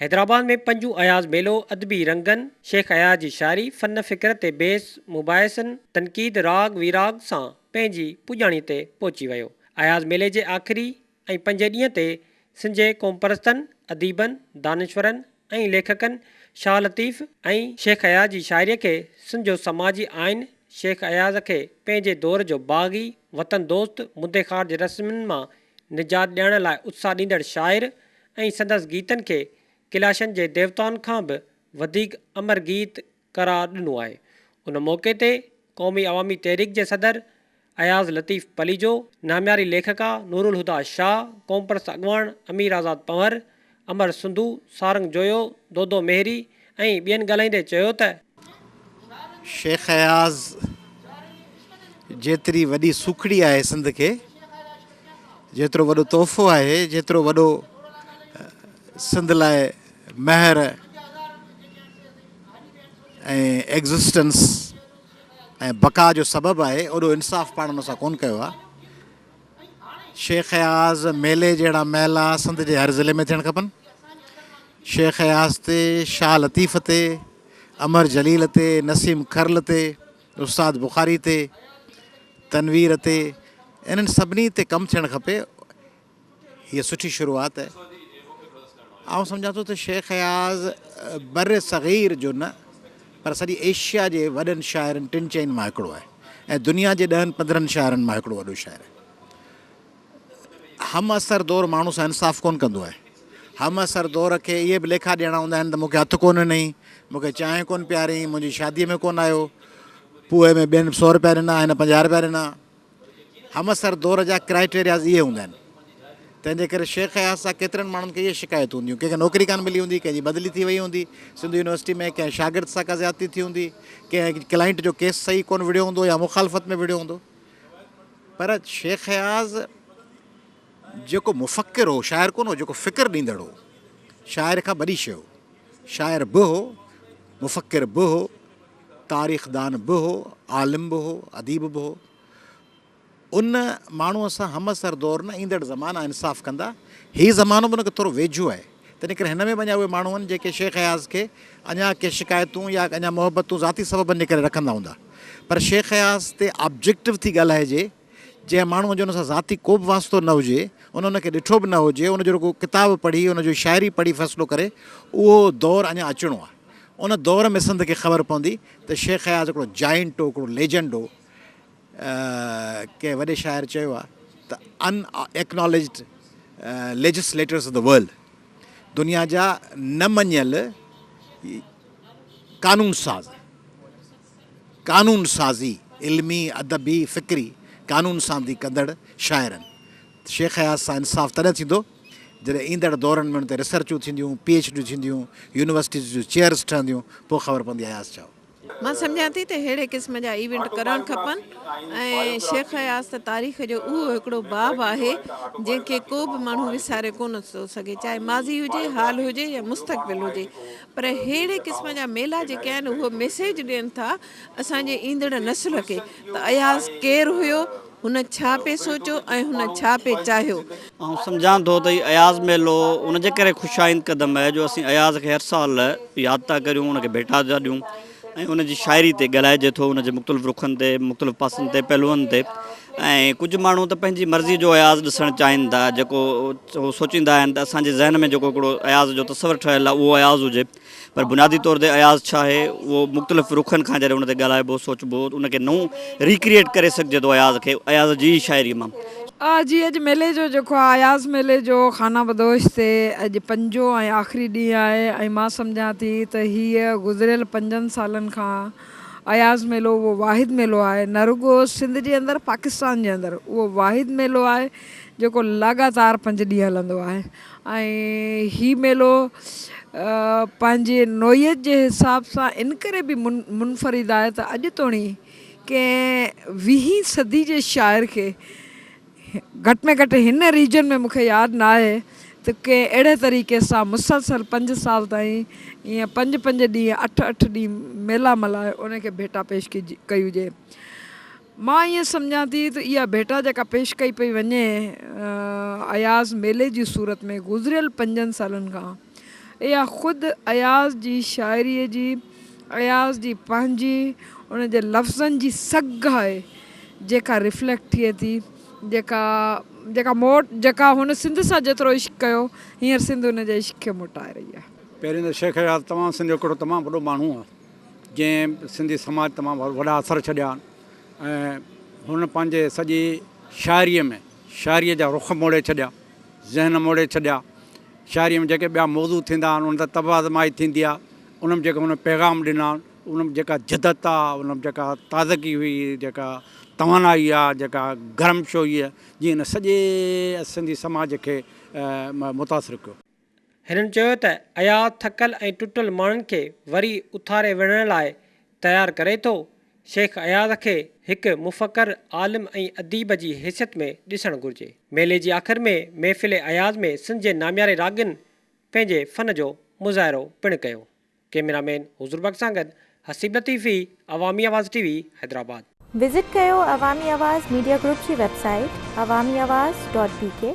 حيدرآباد ۾ پنجون اياز ميلو ادبي رنگن، شيخ اياز جي شاعري، فن فڪر تي بحث، مباحثن، تنقيد، راڳ ويراڳ سان پنهنجي پڄاڻي تي پهچي ويو. اياز ميلي جي آخري ۽ پنجين ڏينهن تي سنجهي قومپرستن، اديبن، دانشورن ۽ ليکڪن شاهه لطيف ۽ شيخ اياز جي شاعري کي سنجهو سماجي آئين، شيخ اياز کي پنهنجي دور جو باغي، وطن دوست، مدي خارج رسمن مان نجات ڏيارڻ لاء اتساهه ڏيندڙ شاعر ۽ سندس گيتن کي ڪيلاشن جي ديوتائن کان به وڌيڪ امر گيت قرار ڏنو آهي. ان موقعي تي قومي عوامي تحريڪ جي صدر اياز لطيف پليجو، نامياري ليکڪا نورالهديٰ شاهه، قومپرست اڳواڻ امير آزاد پنهور، امر سنڌو، سارنگ جويو، دودو مهري، ۽ ٻين ڳالهائيندي چيو ته. شيخ اياز جيتري وڏي سوکڙي آهي سنڌ کي، جيترو وڏو تحفو آهي، جيترو وڏو سنڌ لاء مهر ۽ ايگزسٽنس ۽ بقا جو سبب آهي، اوڏو انصاف پاڻ ان سان ڪونه ڪيو آهي. شيخ اياز ميلي جهڙا ميلا سنڌ جي هر ضلعي ۾ ٿيڻ کپن. شيخ اياز تي، شاهه لطيف تي، امر جليل تي، نسيم کرل تي، استاد بخاري تي، تنوير تي انهن سڀني تي ڪم ٿيڻ کپي. هيء سٺي شروعات آهي. آئون سمجهان ٿو ته شيخ اياز بر صغير جو نه پر سڄي ايشيا جي وڏن شاعرن ٽن چئن مان هڪڙو آهي ۽ دنيا جي ڏهن پندرهن شاعرن مان هڪڙو وڏو شاعر آهي. هم عصر دور ماڻهو سان انصاف ڪونه ڪندو آهي. هم عصر دور کي اهي به ليکا ڏيڻا هوندا آهن ته مون کي هٿ ڪونه ڏنئين، مون کي چانهه ڪونه پياريئين، منهنجي شاديء ۾ ڪونه آيو، پوء ۾ ٻين سؤ رپيا ڏنا هن پنجاهه رپيا ڏنا. همعصر دور جا ڪرائيٽيرياز اهي هوندا آهن تنهن جي ڪري شيخ اياز سان ڪيترن ماڻهن کي اهي شڪايتون هونديون ڪنهن کي نوڪري ڪانه ملي هوندي ڪنهن جي بدلي ٿي وئي هوندي سنڌو يونيورسٽي ۾ ڪنهن شاگرد سان ڪا زيادتي ٿي هوندي ڪنهن ڪلائنٽ جو ڪيس صحيح ڪونه وڙهيو هوندو يا مخالفت ۾ وڙهيو هوندو پر شيخ اياز جيڪو مفڪر هو شاعر ڪونه هو جيڪو فڪر ڏيندڙ هو شاعر کان وڏي شي هو شاعر به هو مفڪر به هو تاريخدان به هو، عالم به هو، اديب به هو. ان ماڻهوء سان همعصر دور نه ايندڙ زمانا انصاف ڪندا. هي زمانو به ان کي ٿورو ويجهو آهي. تنهن ڪري هن ۾ به اڃا اهي ماڻهو آهن جيڪي شيخ اياز کي اڃا ڪي شڪايتون يا اڃا محبتون ذاتي سببن جي ڪري رکندا هوندا. پر شيخ اياز تي آبجيڪٽو ٿي ڳالهائجي. جنهن ماڻهوء جو ان سان ذاتي ڪوبه واسطو نه هجي، ان ان کي ڏٺو به نه هجي، ان جو رڳو ڪتاب پڙهي، ان جون شاعري پڙهي فيصلو ڪري، اهو دور اڃا اچڻو آهي. ان دور ۾ سنڌ کي خبر پوندي ته شيخ اياز هڪڙو جائنٽ هو، هڪڙو ليجنڊ هو. ڪنهن وڏي شاعر چيو آهي ته unacknowledged legislators of the world, دنيا جا نه مڃيل قانون ساز. قانون سازي، علمي، ادبي، فڪري قانون سانڌي ڪندڙ شاعرن. شيخ اياز سان انصاف تڏهن ٿيندو، جڏهن ايندڙ دورن ۾ ان تي ريسرچون ٿينديون، پي ايڇ ڊيون ٿينديون، يونيورسٽيز جون چيئرز ٺهنديون، پوء خبر پوندي اياز ڇا هو. مان سمجهان ٿي ته ههڙي قسم جا ايونٽ ڪرڻ کپن ۽ شيخ اياز ته تاريخ جو اهو هڪڙو باب آهي، جنهن کي ڪو به ماڻهو وساري ڪونه ٿو سگهي، چاهي ماضي هجي، حال هجي يا مستقبل هجي. پر ههڙي قسم جا ميلا جيڪي آهن اهو ميسيج ڏين ٿا اسان جي ايندڙ نسل کي ته اياز ڪير هيو، هن ڇا پئي سوچيو ۽ هن ڇا پئي چاهيو. آئون سمجهان ٿو ته هي اياز ميلو ان جي ڪري خوش آئند قدم آهي جو اسين اياز کي هر سال ياد ٿا ڪريون، ان کي ڀيٽا ٿا ڏيون. ۽ ان جي شاعري تي ڳالهائجي ٿو، ان جي مختلف رخن تي، مختلف پاسن تي، پهلوئن تي ۽ ڪجهه ماڻهو ته پنهنجي مرضيء جو اياز ڏسڻ چاهين ٿا، جيڪو هو سوچيندا آهن ته اسان جي ذهن ۾ جيڪو هڪڙو اياز جو تصور ٺهيل آهي اهو اياز هجي، پر بنيادي طور تي اياز ڇا آهي اهو مختلف رخن کان جڏهن ان تي ڳالهائبو، سوچبو، ان کي نئون Recreate ڪري سگهجي ٿو اياز کي، اياز جي ئي شاعريء مان. آء جي اڄ ميلي جو جيڪو آء اياز ميلي جو خانه بدوش تي اڄ پنجو ۽ آخري ڏينهن آهي ۽ مان سمجهان ٿي ته هيء گذريل پنجن سالن کان اياز ميلو اهو واحد ميلو آهي نه رڳو سنڌ جي اندر پاڪستان جي اندر اهو واحد ميلو آهي جيڪو لاڳاتار پنج ڏينهن هلندو آهي ۽ هي ميلو پنهنجي نوعيت جي حساب سان ان ڪري به منفرد آهي ته اڄ توڻي ڪنهن ويهين صدي جي شاعر کي گهٽ ۾ گهٽ هن ريجن ۾ مون کي ياد ناهي ته ڪنهن اهڙي طريقي سان مسلسل پنج سال تائين ايئن پنج پنج ڏينهن اٺ اٺ ڏينهن ميلا ملهائي ان کي ڀيٽا پيش ڪئي هجي. مان ايئن سمجهان ٿي ته اها ڀيٽا جيڪا پيش ڪئي پئي وڃي اياز ميلي جي صورت ۾ گذريل پنجن سالن کان اها خود اياز جي شاعريء جي، اياز جي پنهنجي، ان جي لفظن جي سگهه آهي، جيڪا ريفليڪٽ ٿئي ٿي، جيڪا جيڪا موٽ جيڪا هن سنڌ سان جيترو عشق ڪيو، هينئر سنڌ ان جي عشق کي موٽائي رهي آهي. پهرين ته شيخ اياز توهان سنڌ جو هڪڙو تمام وڏو ماڻهو آهي، جنهن سنڌي سماج تمام وڏا اثر ڇڏيا آهن ۽ هن پنهنجي سڄي شاعريء ۾ شاعريء جا رخ موڙي ڇڏيا، ذهن موڙي ڇڏيا، شاعريء ۾ جيڪي ٻيا موضوع ٿيندا آهن، انهن تي طبع آزمائش ٿيندي آهي، انهن ۾ جيڪي هن پيغام ڏنا آهن، انهن ۾ جيڪا جدت آ، انهن ۾ جيڪا تازگي هئي، جيڪا توانائي آ، جيڪا گرم شويء جي هن سڄي سنڌي سماج کي متاثر ڪيو. هنن چيو ته اياز ٿڪل ۽ ٽٽل ماڻهن کي وري اٿاري وڙهڻ لاء تيار ڪري ٿو، شيخ اياز کي هڪ مفڪر، عالم ۽ اديب جي حيثيت ۾ ڏسڻ گهرجي. ميلي جي آخر ۾ محفل اياز ۾ سنڌ جي نامياري راڳين پنهنجي فن جو مظاهرو پڻ ڪيو. ڪيميرا مين حضور بخش سان گڏ Haseeb Latifi, Awami Awaz T V, Hyderabad. Visit ڪيو عوامي آواز ميڊيا گروپ جي website Awami Awaz dot بي ڪي.